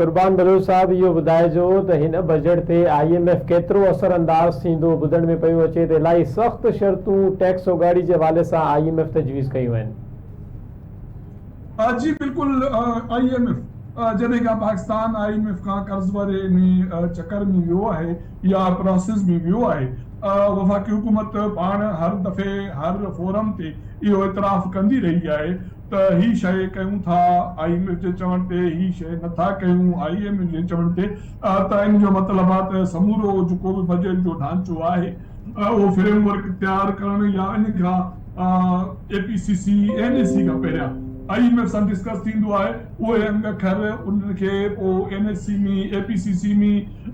قربان بلوچ صاحب اهو ٻڌائجو ته هن بجيٽ تي آء ايم ايف ڪيترو اثر انداز ٿيندو ٻڌڻ ۾ پيو اچي ته الائي سخت شرطون ٽيڪس اوڳاڙي جي حوالي سان آء ايم ايف تجويز ڪيون آهن. جي بلڪل آء ايم ايف جڏهن کان پاڪستان آء ايم ايف کان قرض واري ان چڪر ۾ ويو آهي يا پراسيس ۾ ويو آهي وفاقي حڪومت پاڻ هر دفعي هر فورم تي اهو اعتراف ڪندي رهي آهي ته هي شيء ڪيون ٿا آء ايم ايف جي چوڻ تي هي شيء نه ٿا ڪيون آء ايم ايف جي چوڻ تي ته ان جو مطلب آ ته سمورو جيڪو به بجيٽ جو ڍانچو آهي اهو فريم ورڪ تيار ڪرڻ يا ان کان A P C C N E C کان پهريان آء ايم ايف سان ڊسڪس ٿيندو آهي اهي انگ کر انهن کي پو N E C ۾ A P C C ۾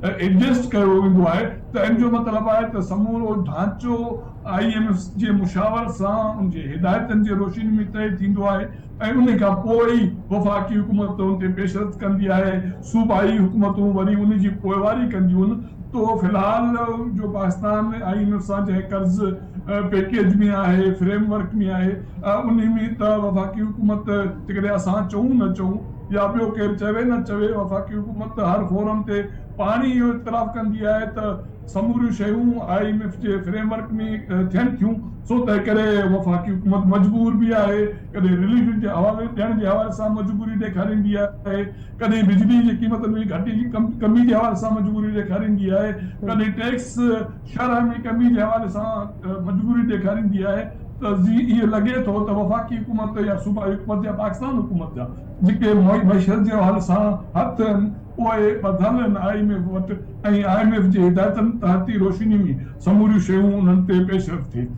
adjust ڪيو ويندو آهي ته ان جو مطلب آهي ته سمورو ڍانچو آء ايم ايف جي مشاورت سان ان جي هدايتن جي روشني ۾ طئي ٿيندو آهي ۽ ان کان پوء ئي وفاقي حڪومت ان تي پيشرفت ڪندي آهي، صوبائي حڪومتون وري ان جي پوئواري ڪنديون تو في الحال جو پاڪستان آء ايم ايف سان جنهن قرض پيڪيج ۾ آهي، فريم ورڪ ۾ آهي انهي ۾ ته وفاقي حڪومت جيڪڏهن اسان چئون نه چئون يا ٻيو ڪير چوي نه چوي وفاقي حڪومت هر فورم تي پاڻ ئي اهو اعتراف ڪندي آهي ته سموريون شيون آء ايم ايف جي فريم ورڪ ۾ ٿين ٿيون سو تنهن ڪري وفاقي حڪومت مجبور به آهي ڪڏهن رليف جي حوالي ڏيڻ جي حوالي سان مجبوري ڏيکاريندي آهي ڪڏهن بجلي جي قيمتن ۾ گهٽي جي ڪمي جي حوالي سان مجبوري ڏيکاريندي آهي ڪڏهن ٽيڪس شرح ۾ ڪمي جي حوالي سان مجبوري ڏيکاريندي آهي ته جي ايئن لڳي ٿو ته وفاقي حڪومت يا صوبائي حڪومت يا پاڪستان حڪومت جا جيڪي معيشت جي حوالي سان هٿ آهن اهي ٻڌل آهن آء ايم ايف وٽ ۽ آء ايم ايف جي هدايتن تحت ئي روشني ۾ سموريون شيون انهن تي پيش رفت ٿئي ٿي.